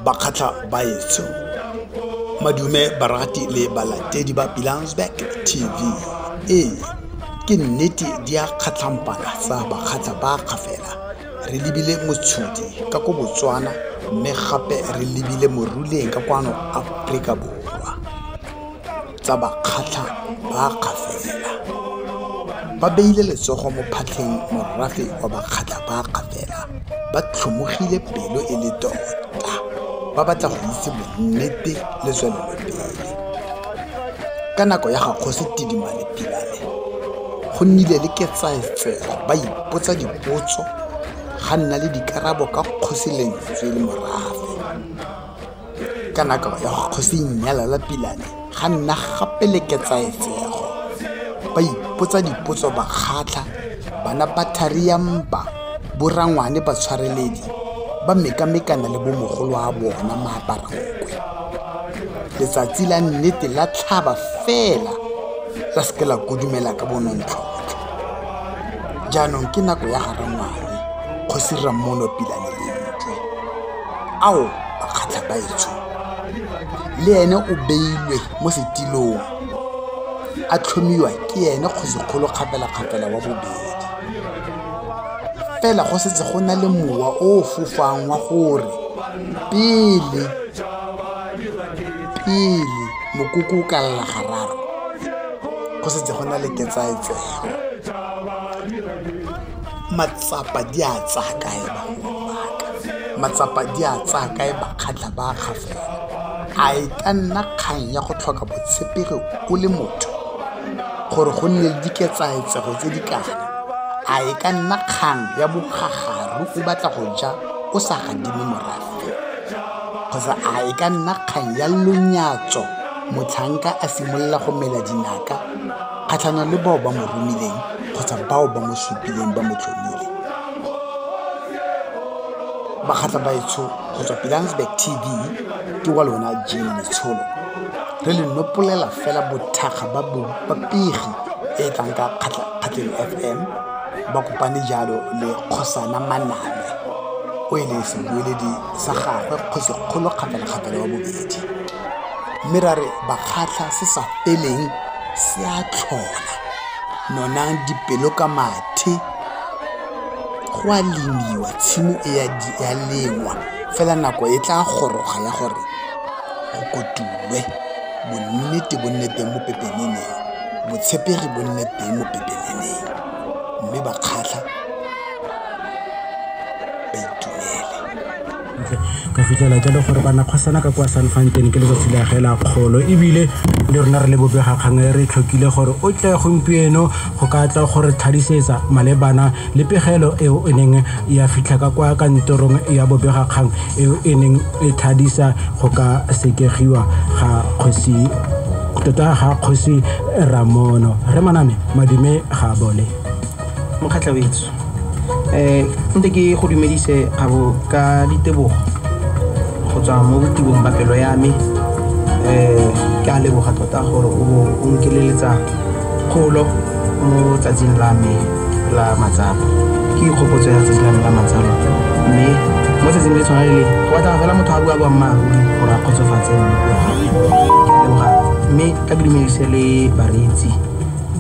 bakgatlha baetsho madume barati le balatedi ba pilansberg tv ee ke nnete di a kgatlhampana tsa bakgatlha ba ga fela re lebile motshodi ka ko botswana mme gape re lebile moruleng ka kwano aforika borwa tsa bakgatlha ba Kgafela ba beile letsogo mo phatlheng morafe wa bakgatlha ba Kgafela ba tlhomogile pelo e le tota ba batla go itse bonnete le tswelelopele ka nako ya ga kgosi tidimale pilale go nnile le ketsaetsego ba ipotsa dipotso ga nna le dikarabo ka kgosi lentswe le morafe ka nako ya kgosi nnyala la pilane ga nna gape le ketsaetsego ba ipotsa dipotso ba kgatlha bana ba tharia mpa borangwane ba tshwareledi ba mekamekana le bomogolo wa bona maaparankwe letsatsi la nnete la tlhaba fela la seke la kodumela ka bonontlhotlho jaanong ke nako ya garangwane kgosi rammono pilane ao makgatlhabaetsho le ene o beilwe mo setilong a tlhomiwa ke ene kgosikgolo kgapelakgapela wa bobedi fela go setse go na le mowa o o fofang wa gore pele pele mokoko o ka lela gararo go setse go na le ketsaetsego matsapa di a tsaya kae bagolo ba ka, matsapa di a tsaya kae bakgatla ba ga fela, a e ka nna kgang ya go tlhoka botshepegi o le motho gore go nne le diketsaetsego tse di kana, a e ka nna kgang ya bogagaru o batla go ja o sa gadime morafe, kgotsa a e ka nna kgang ya lonyatso motlhanka a simolola go mela dinaka? Kgatlhanong le bao ba mo romileng kgotsa bao ba mo supileng ba mo tlhomile, Bakgatlabaetsho go tswa Pilanesberg TV ke wa lona Jean Letsholo, re le nopolela fela bothakga ba bopegi e e tlang ka Kgatleng FM, ba kopane jalo le Kgosana Manabe o e leng sebueledi sa gagwe kgosi kgolo kgapelakgapela wa bobedi. mme ra re bakgatlha se sa feleng se a tlhola nonang dipelo ka mathe go a lemiwa tshimo e ya lengwa fela nako e tla goroga ya gore go kotulwe bonnete bo nne teng mo pepeneneng botshepegi bo nne teng mo pepeneneng mme bakgatlha ka fitlhela jalo gore ba nakgwasana ka kwa san fantene ke letsatsi la ge la kgolo ebile le rona re le bobega kgang e re tlhokile gore o tle gompieno go ka tla gore tlhadisetsa malebana le pegelo eo e neng ya fitlha ka kwa kantorong ya bobega kgang eo e neng e tlhadisa go ka sekegiwa ga kgosi tota ga kgosi ramono re maname madume ga bole Mokgatla wetso eh nte ke go dumedise gabo ka ditebogo go tswa mo botibong ba pelo ya me eh ke a leboga tota gore o bo o nkeleletsa kgolo mo tsatsing la me la matsapa ke ikgopotso ya tsatsi la me la matsalo mme mo tsatsing le tshwana le le go batla fela motho a bua boammaaruri gore a kgotsofatse mmogo ke a leboga mme ka ke dumedise le bareetsi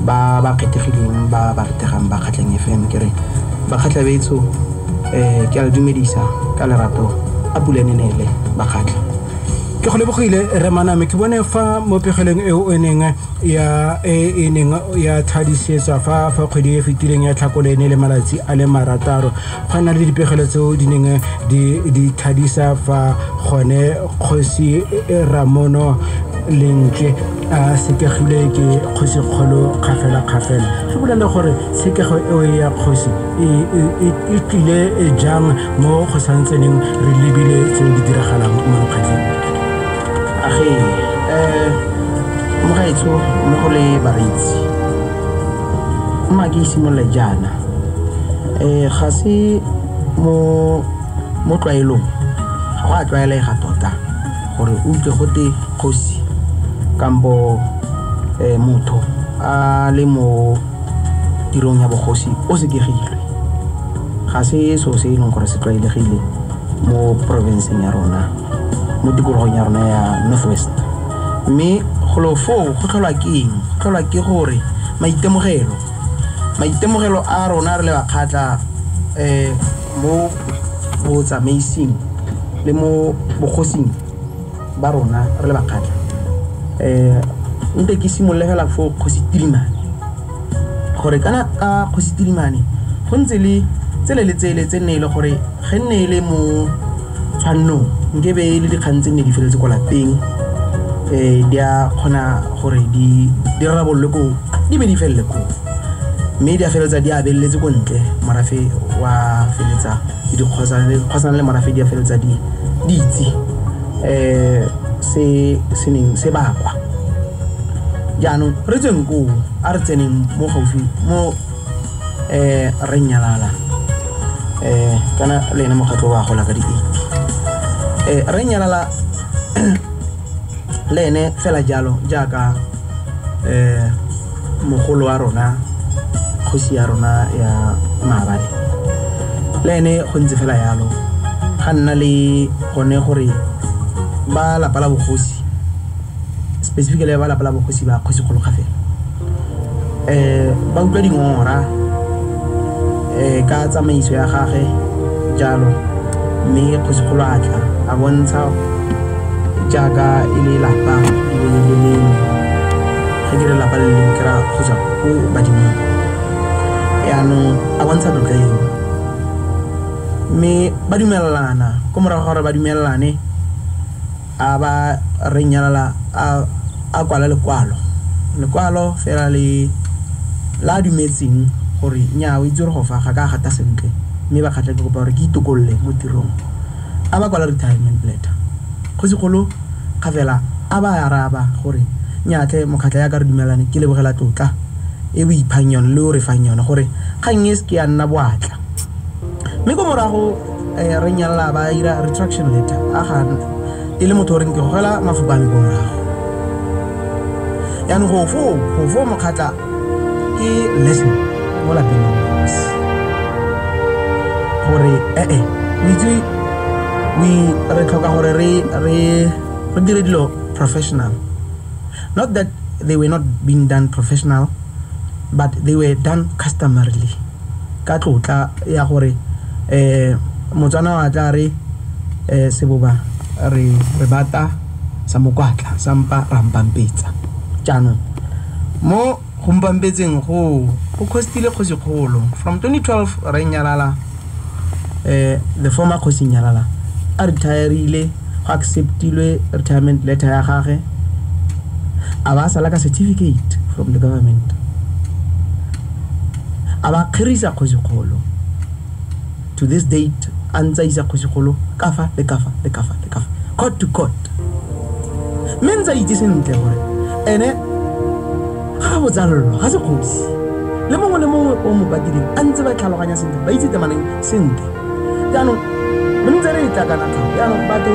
ba ba kgethegileng ba ba retegang ba kgatlheng fm ke re bakgatlha betso um ke a le dumedisa ka lerato a pula ne neele bakgatlha ke go lebogile remaname ke bone fa mo pegelong eo e neng ya e e neng ya tlhadisetswa fa fa kgwedi e fetileng ya tlhakole ne le malatsi a le marataro go nna le dipegelo tseo di neng di di tlhadisa fa gone kgosi ramono lentle a sekegile ke kgosikgolo kgafela-kgafela re bolele gore tshekego eo ya kgosi e, e, e, e tlile jang mo go santseneng re lebile tse di diragalang mo mokgatlheng age um eh, mogaetsho mo go le bareitsi mma ke simolole jaana um ga se mo tlwaelong ga go a tlwaelega tota Gore o utlwe gote kgosi kampo motho a le mo tirong ya bogosi o sekegilwe. Ga se so se e leng gore se tlwaelegile mo porofenseng ya rona, mo tikologong ya rona ya North West. Mme golo foo go tlholwa ke eng? Go tlholwa ke gore maitemogelo a rona re le Bakgatla . mo botsamaising le mo bogosing ba rona re le bakgatlha um nte ke simolole fela fo kgosi tilimane gore kana ka kgosi tilimane go ntse le tsele le tsele tse nne e le gore ge nne e le mo Jaanong, nke be e le dikgang tse nne di feletse kwa lapeng um di a kgona gore di rarabololwe ko di be di felele ko mme di a feleletsa di abeletse ko ntle morafe wa feletsa le dikgosana le morafe di a feleletsa di itse um se se neng se bakwa jaanong re tsweng koo a re tseneng mo gaufi mo eh re nyalala eh kana le ene mokgatlho wa gola ka diipi eh re nyalala le ene fela jalo jaaka eh mogolo wa rona kgosi ya rona ya maabane le ene go ntse fela yalo ga nna le gone gore ba lapa la bogosi specifically ba lapa la bogosi ba kgosi kgolokga fela um ba utlwa dingora um ka tsamaiso ya gage jalo mme kgosikgolo a tla a bontsha jaaka e le lapa le le lengwe ga ke re lapa le lengwe ke ra kgotsa ko badimong yaanong a bontsha tlotla eo mme ba dumelelana ko morago gore ba dumelelane A ba re nyalala a, a kwala lekwalo. Lekwalo fela le la a dumetseng gore nyaa o itse gore go fa ga ka a gata sentle mme ba kgatlha ke kopa gore ke itokolole mo tirong. A ba kwala retirement letter. Kgosigolo ga fela a ba araba gore nyaa tlhe Mokgatlha yaka re dumelane ke lebogela tlotla e o iphang yone le o re fang yone gore kgang e se ke ya nna boatla. Mme ko morago. eh, re nyalla ba ira retraction letter a ga e le motho o reng ke gogela mafoko a me ko morago yaanong go foo go foo mokgatla ke lesson mo lapeng la mosi gore ee eh, eh, o itse re tlhoka gore re dire dilo professional not that they were not being done professional but they were done customarily Ka tlotla ya gore Motswana wa tla re seboba re re bata sa mokwatla sa mpa ra mpampetsa. Jaanong mo go mpampetseng go go khostile kgosi kgolo from 2012 re nyalala the former kgosi nyalala a retireile go acceptilwe retirement letter ya gage a ba sala ka certificate from the government A ba kgerisa kgosikgolo. To this date, a ntse a isa kgosikgolo kafa le kafa le kafa le kafa, court to court. Mme ntse a itse sentle gore ene ga a botsallo, ga se kgosi. Le mongwe le mongwe o mo patileng a ntse ba tlhaloganya sentle, ba itse temaneng sentle. Jaanong re ntse re e tla kana tlhao. Jaanong batho,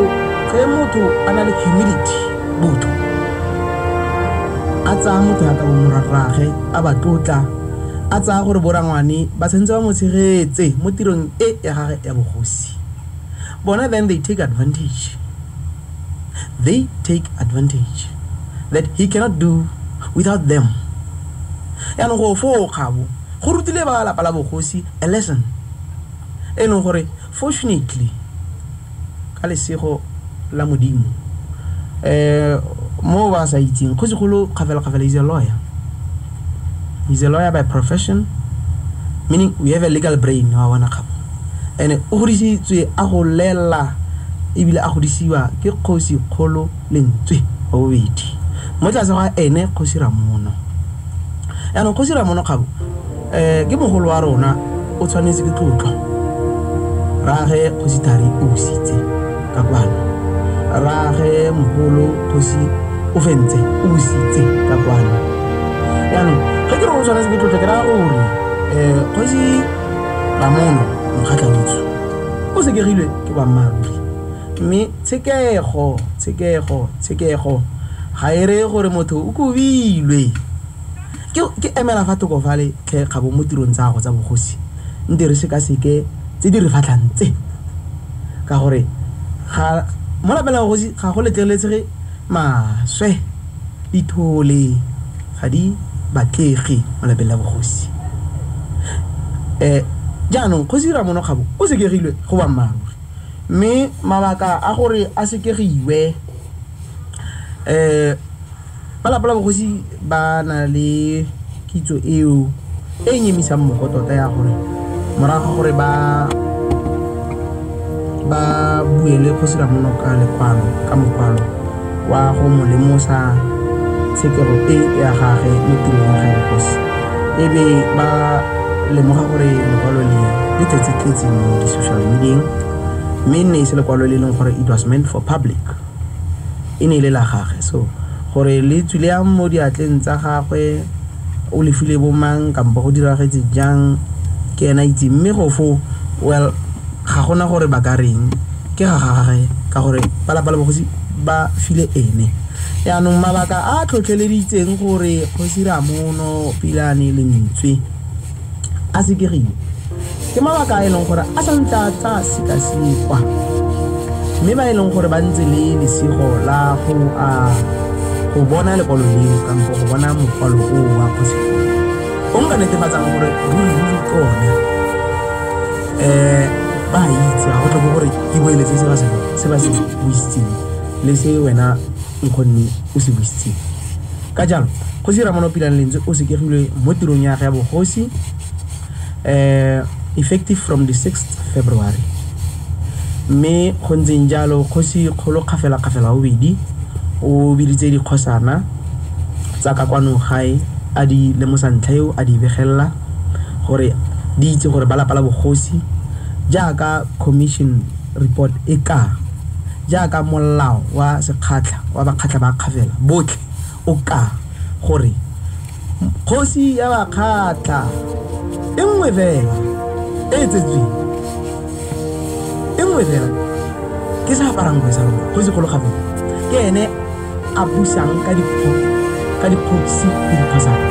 ge motho a na le humility, botho, a tsaya motho yaka bo morwarraagwe, a ba tlotla, a tsaya gore borangwane ba tshwanetse ba mo tshegetse mo tirong e ya gage ya bogosi. Bona then they take advantage. They take advantage that he cannot do without them. Yaanong go foo kgabo go rutile ba lapa la bogosi a lesson e leng gore Fortunately, ka lesego la Modimo, mo ba sa itseng, Kgosigolo Kgafela-Kgafela is a lawyer. He's a lawyer by profession, meaning we have a legal brain, wa bona kgabo. And o godisitswe a go lela ebile a godisiwa ke Kgosi Kgolo lentswe wa bobedi mo tlase ga ene Kgosi Ramono. Yaanong Kgosi Ramono Kgabo um ke mogolo wa rona, o tshwanetse ke tlotlo. Rage Kgosi Thari o busitse ka kwano, rage mogolo Kgosi o fentse o busitse ka kwano. Yaanong ge ke re o tshwanetse ke tlotlo ke raya gore um Kgosi Ramono Mokgatlhaditso o sekegilwe ke boammaaruri mme Tshekego, tshekego, tshekego ga e reye gore motho o kobilwe. Ke, ke emela fa thoko fale tlhe kgabo mo tirong tsa gago tsa bogosi, nte re sekaseke tse di re fatlhang tse, ka gore ga mo lapeng la bogosi ga go letleletsege maswe, dithole ga di batlege mo lapeng la bogosi. Eh, jaanong Kgosi Ramono Kgabo o sekegilwe go boammaaruri. Mme mabaka a gore a sekegiwe, ba lapa la bogosi ba na le kitso eo e e nyemisang mogo tota ya gore morago ga gore ba ba buele kgosi Ramonoka lekwalo ka mokwalo wa go mo lemosa tshekego e ya gage mo tirong ya gaegosi e be ba lemoga gore lekwalo le le tletse-tletse mo di-social medieng mme nne e se lekwalo le e leng gore it was meant for public e ne e le la gage so gore le tswile yang mo diatleng tsa gagwe o lefile bomang kampo go diragetse jang ke ena itse mme go fo well ga gona gore ba ka reng Ke ga gagwe ka gore ba lapa la bogosi ba file ene. Yaanong mabaka a a tlhotlheleditseng gore kgosi Ramono Pilane Lentswe a sekegiwe ke mabaka a e leng gore a santse a tsa sekasekwa mme ba e leng gore ba ntse le lesego la go a go bona lekwalo leo kampo go bona mokwalo o wa kgosi o nka netefatsang gore ruri ruri kone ba itse ga go tlhoke gore ke boeletse se ba se se ba se buisitseng le se wena nkgonne o se buisitseng ka jalo go se ramano pilang lentswe o sekegilwe mo tirong ya ge ya bogosi um effective from the 6th february mme go ntseng jalo kgosi kgolo kgafela-kgafela bobedi o biditse dikgosana tsa ka kwano gae a di lemosa ntlha eo a di begelela gore di itse gore ba lapa la bogosi jaaka commission report e ka jaaka molao wa sekgatlha wa bakgatlha ba kgafela botlhe o ka gore kgosi ya bakgatlha e nngwe fela e tsetsweng e nngwe fela ke sa aparang kgwesa kgosi kgolo gape ke ene a busang ka dikgosi ka dikgosi le dikgosana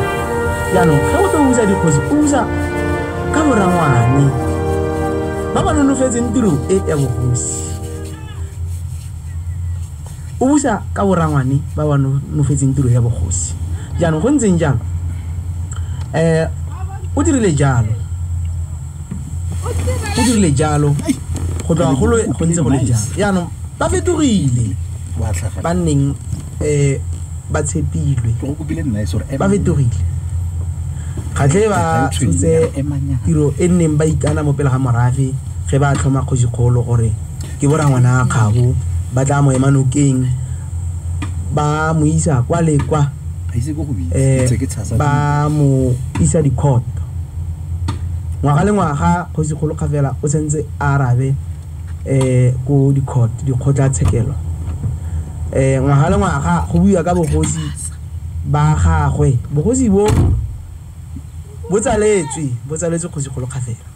jaanong ga o tlo usa dikgosi o usa ka borangwane ba ba nonofetseng tiro e ya bogosi o busa ka borangwane ba ba nonofetseng tiro ya bogosi jaanong go ntseng jang um o dirile jalo go dirile jalo go tloga golo go ntse go le jalo jaanong ba fetogile ba nneng um ba tshepilwe ba fetogile kgatlhe ba tshotse tiro e nneng ba ikana mo pele ga morafe ge ba tlhoma kgosikgolo gore ke bora ngwana a kgabo ba tla mo ema nokeng ba mo isa kwa le kwa um ba mo isa dikhoto Ngwaga le ngwaga, Kgosikgolo Kgafela o sentse a arabe um ko di-court, dikgotlatshekelo. um Ngwaga le ngwaga, go buiwa ka bogosi ba gagwe. Bogosi bo, bo tsaletswe, bo tsaletswe Kgosikgolo Kgafela.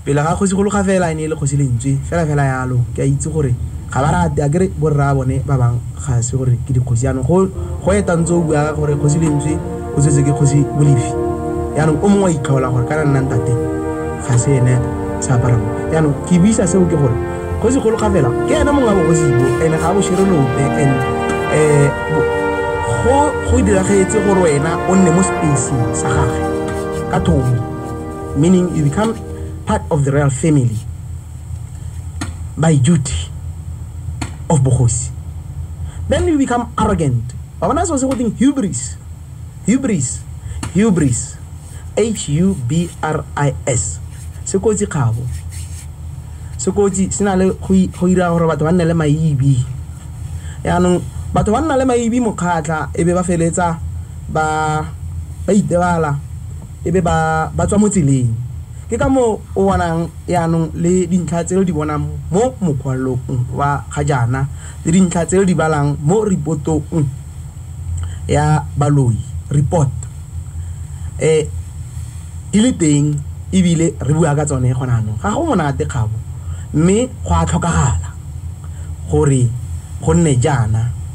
Pele ga Kgosi Gologa fela e ne e le Kgosi Lentswe fela fela yalo. Ke a itse gore ga ba rate akere borraa bone ba bang ga se gore ke dikgosi yanong go go eta ntse o bua gore Kgosi Lentswe o tsetse ke Kgosi Molefi yanong o mongwe a itlhola gore kana nna ntate ga se ene sa apara mo yanong ke buisa seo ke gore Kgosi Gologa fela ke ene mongwe wa bogosi bo ene ga bo shere lope and eh go go diragetse gore wena o nne mo space sa gagwe ka thomo. meaning you become part of the royal family by duty of bogosi then you become arrogant wa bona so se go teng hubris hubris hubris h u b r i s se kotsi kgabo se kotsi se na le go ira gore batho ba nne le maibi yaanong batho ba nna le maibi mokgatlha e be ba feletsa ba ba itebala e be ba ba tswa mo tseleng. Ke ka moo o bonang jaanong le dintlha tse lo di bonang mo mokwalong wa ga jaana le dintlha tse lo di balang mo repotong ya baloi, report, e di le teng ebile re bua ka tsone gone jaanong. Ga go monate kgabo mme go a tlhokagala gore go nne jaana.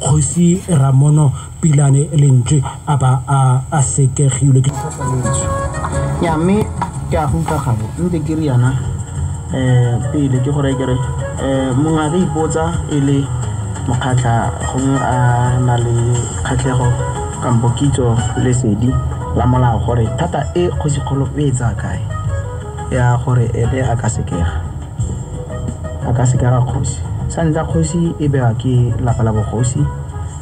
Kgosi Ramono Pilane Lentswe a ba a sekegilwe ke ya mme ke a go utlwa gago ntse ke re yana um eh, pele ke gore kere um eh, mongwe a ka ipotsa e le mokgatlha gongwe a na le kgatlhego kampo kitso lesedi la molao gore thata e kgosikgolo e e tsaya kae ya gore ebe a ka sekega a ka seka ga kgosi sa ntlha kgosi e bewa ke lapa la bogosi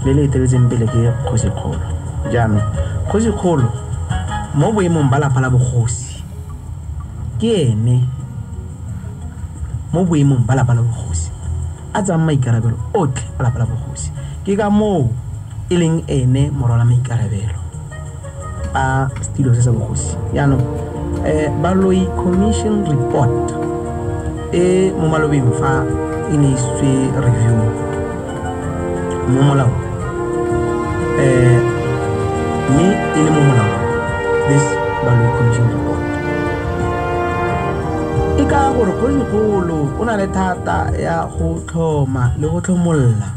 le le eteletseng pele ke kgosi kgolo jaanong kgosi kgolo mo boemong ba lapa la bogosi ke ene mo boemong ba lapa la bogosi a tsang maikarabelo otlhe a lapa la bogosi ke ka moo e leng ene morwala maikarabelo a setilo se sa bogosi yaanong um baloi commission report e mo malobeng fa e ne isitswe review mo molao um mme e le mo molao this baloi commission report e ka gore kgologolo o na le thata ya go tlhoma le go tlhomolola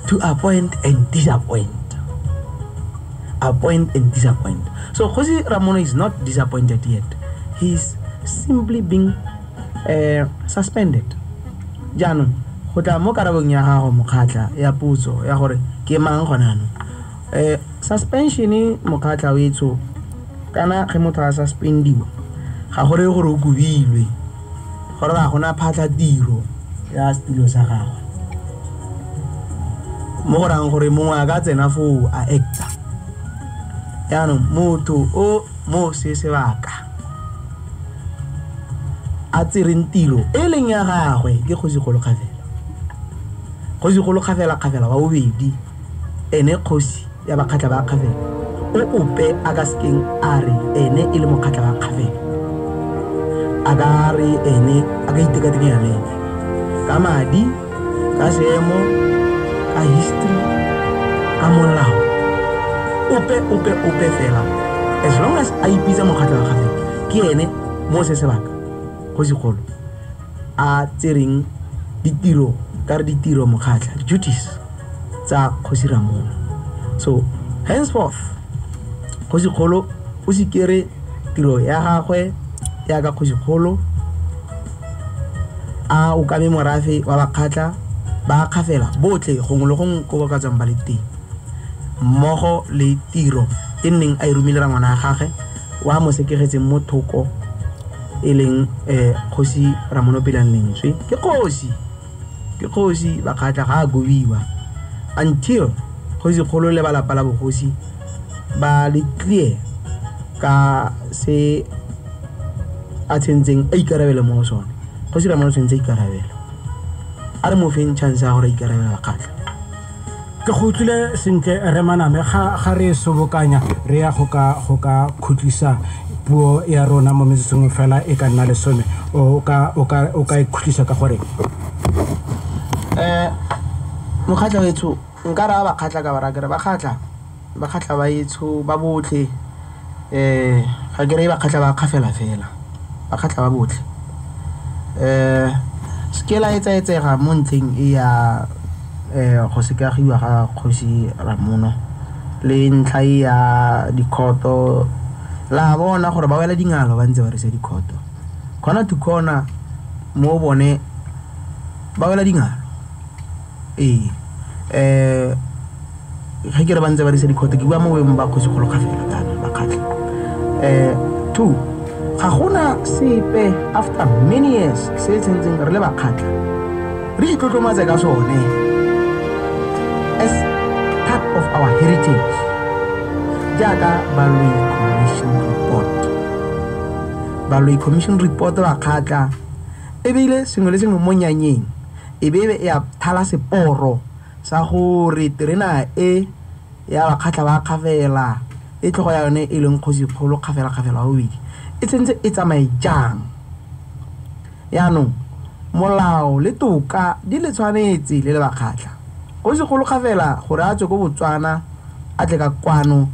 to appoint and disappoint appoint and disappoint so kgosi ramono is not disappointed yet he is simply being uh, suspended jaanong go tla mo karabong ya gago mokgatlha ya putso ya gore ke mang gonano um eh, suspensione mokgatlha o etsho kana ge motho a suspendiwa ga gore gore o kobilwe Gore ga gona phatlhatiro ya setulo sa gagwe, mo go rayang gore mongwe a ka tsena foo a acta. Jaanong motho o mo se sebaka a tsereng tiro e leng ya gagwe ke kgosi Golokgafela, kgosi Golokgafela-kgafela wa bobedi. Ene kgosi ya bakgatla ba Kgavelo, o ope a ka sekeng a re ene e le mokgatla wa Kgavelo a ka re ene a ka itekatekanya le ene ka madi, ka seemo, ka history, ka molao, ope ope ope fela as long as a ipitsa mokgatla wa Kgavelo ke ene mo se sebaka kgosigolo a tsereng ditiro ka re ditiro mokgatlha duties tsa kgosi ramong so henceforth kgosi kgolo o se kere tiro ya gagwe ya ka kgosi kgolo a o kame morafe wa bakgatlha ba kgafela botlhe gongwe le gongwe ko ba ka tswang ba le teng mmogo le tiro e nneng a e romile rangwana ya gagwe wa mo sekegetseng mo thoko e leng um kgosi ramonopelang lentswe ke kgosi ke kgosi bakgatla ga a kobiwa until kgosi kgolo le ba lapa la bogosi ba le clear ka se a tshentseng a ikarabele mo go sone kgosi ramono tshwanetse a ikarabela a re mo feng chance ya gore a ikarabela bakgatla ke go utlwile sentle re maname ga ga re sobokanya re ya go ka go ka khutlisa puo ya rona mo metsong fela e ka nna lesome o ka o ka o ka e khutlisa ka gore um mokgatlha wetsho nka raya bakgatlha ka bara kere bakgatlha Ba kgatlha ba etsho ba botlhe ga ke reye ba kgatlha ba kgafela fela ba kgatlha ba botlhe se ke la etsa etsega mo ntlheng e ya go sekagiwa ga kgosi Ramono le ntlha e ya dikhoto la bona gore ba wela dingalo ba ntse ba risa dikhoto khona to khona mo bone ba wela dingalo. Ee, ga ke re ba ntse ba dirisa dikgote ke bua mo boemong ba kgosi kgolo kgafela kana ba kgatlha. Um two, ga gona sepe after many years se tshwantseng re le ba kgatlha re itlotlomatse ka sone as part of our heritage jaaka Baloyi Commission Report. Baloyi Commission Report ba kgatlha ebile sengwe le sengwe mo nyanyeng e be e a thala seporo sa gore terena e ya bakgatlha ba Kgafela e tlhogo ya yone e leng Kgosikgolo Kgafela Kgafela wa bobedi e tshwanetse e tsamaye jang. Yaanong molao le toka di le tshwanetse le le bakgatlha. Kgosikgolo Kgafela gore a tswe ko Botswana a tle ka kwano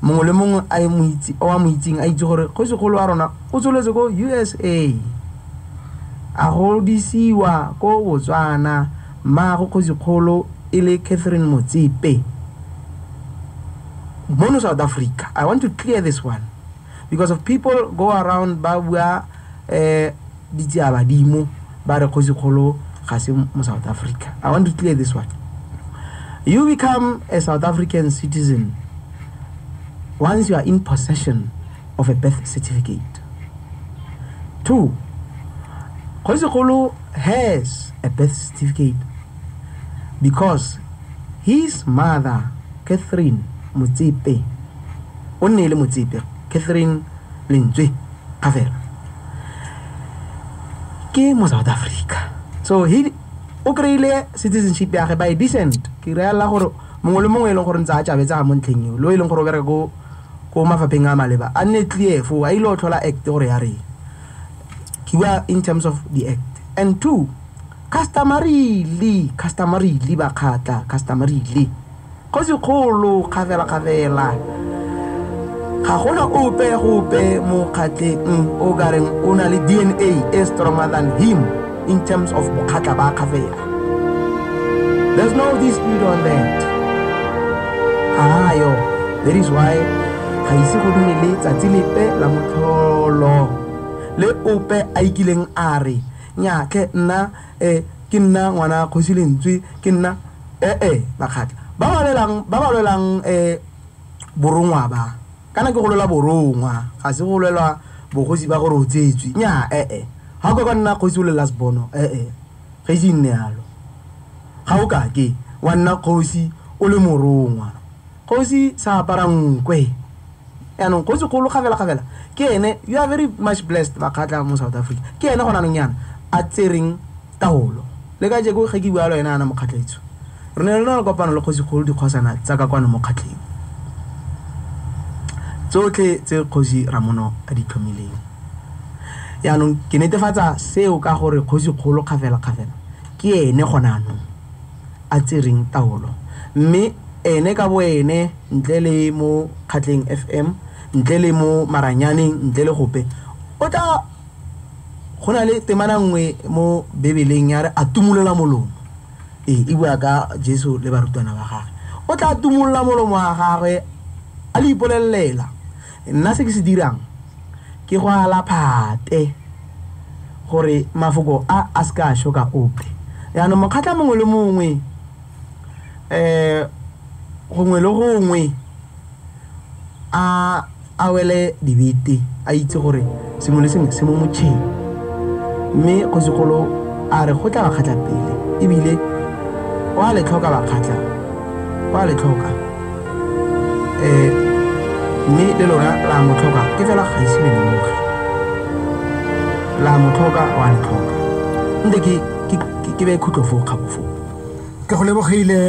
mongwe le mongwe a e mo itse o a mo itseng a itse gore Kgosikgolo wa rona o tsweletse ko USA. A godisiwa ko Botswana, mmaagwe kgosikgolo e le Catherine Motsepe. Mono South Africa, I want to clear this one because of people go around ba bua eh ditsia badimo ba re kgosikgolo ga se mo South Africa. I want to clear this one. You become a South African citizen once you are in possession of a birth certificate. Two, Kgosigolo has a birth certificate because his mother, Catherine Motsepe, o nne le Motsepe, Catherine Lentswe Kgafela, ke mo South Africa. So he o kry-ile citizenship ya ge by descent ke reela gore mongwe le mongwe e leng gore ntse a tšabetsa ga mo ntlheng eo lo e leng gore o bereka ko ko mafapheng a maleba a nne clear foo a ile go tlhola act gore ya reng ke bua in terms of the act and two customarily customarily ba kgatla customarily kgosi kgolo kgafela kgafela ga gona ope gope mo kgatleng o ka reng o na le dna e stronger than him in terms of bokgatla ba kgafela there's no dispute on that ayo that is why ga ise go nne le tsatsi lepe la motlholo le ope a ikileng a re nyatlhe nna um ke nna ngwana kgosi lentswe ke nna ee bakgatla ba ba lwelang um borongwa ba Kana ke go lwela borongwa, ga se go lwela bogosi ba gore o tsetswe. Nnyaa, ee. Ga o ka ka wa nna kgosi o le last born-o, ee, ga ise e nne yalo. Ga o ka ke wa nna kgosi o le morongwa. Kgosi sa apara nkwe. Yaanong kgosikgolo kgafela-kgafela ke ene, you are very much blessed, Bakgatla mo South Africa, ke ene gone jaanong jaana a tsereng. Taolo. Le kajeko ge ke bua le wena yana mo Kgatlaitsu, re ne re na le kopano le kgosikgolo dikgosana tsa ka kwano mo kgatleng tsotlhe tse Kgosi Ramono a di tlhomileng. Jaanong ke netefatsa seo ka gore kgosikgolo kgafelakgafela ke ene gone jaanong a tsereng taolo, mme ene ka boene, ntle le mo Kgatleng FM, ntle le mo Maranyaneng, ntle le gope, o tla. go na le temana nngwe mo bebeleng ya re a tumolola molomo ee e bua ka jesu le barutwana ba gage o tla tumolola molomo wa gagwe a le ipolelelela nna se ke se dirang ke go ala phate gore mafoko a a se ka a shoka ope yaanong mokgatlha mongwe le mongwe um gongwe le gongwe a A wele dibete, a itse gore sengwe le sengwe se mo motšheng. Mme Kgosikgolo a re go tla bakgatla pele, e bile o a le tlhoka bakgatla, o a le tlhoka. Ee, mme le lona la mo tlhoka, ke fela ga ise le lemoge. La mo tlhoka, o a le tlhoka. Nte ke beye khutlo foo, kgabo foo. Ke go lebogile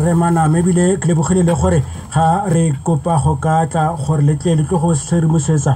Rre Maname ebile ke lebogile le gore ga re kopa go ka tla gore le tle le tlo go re tshedimosetsa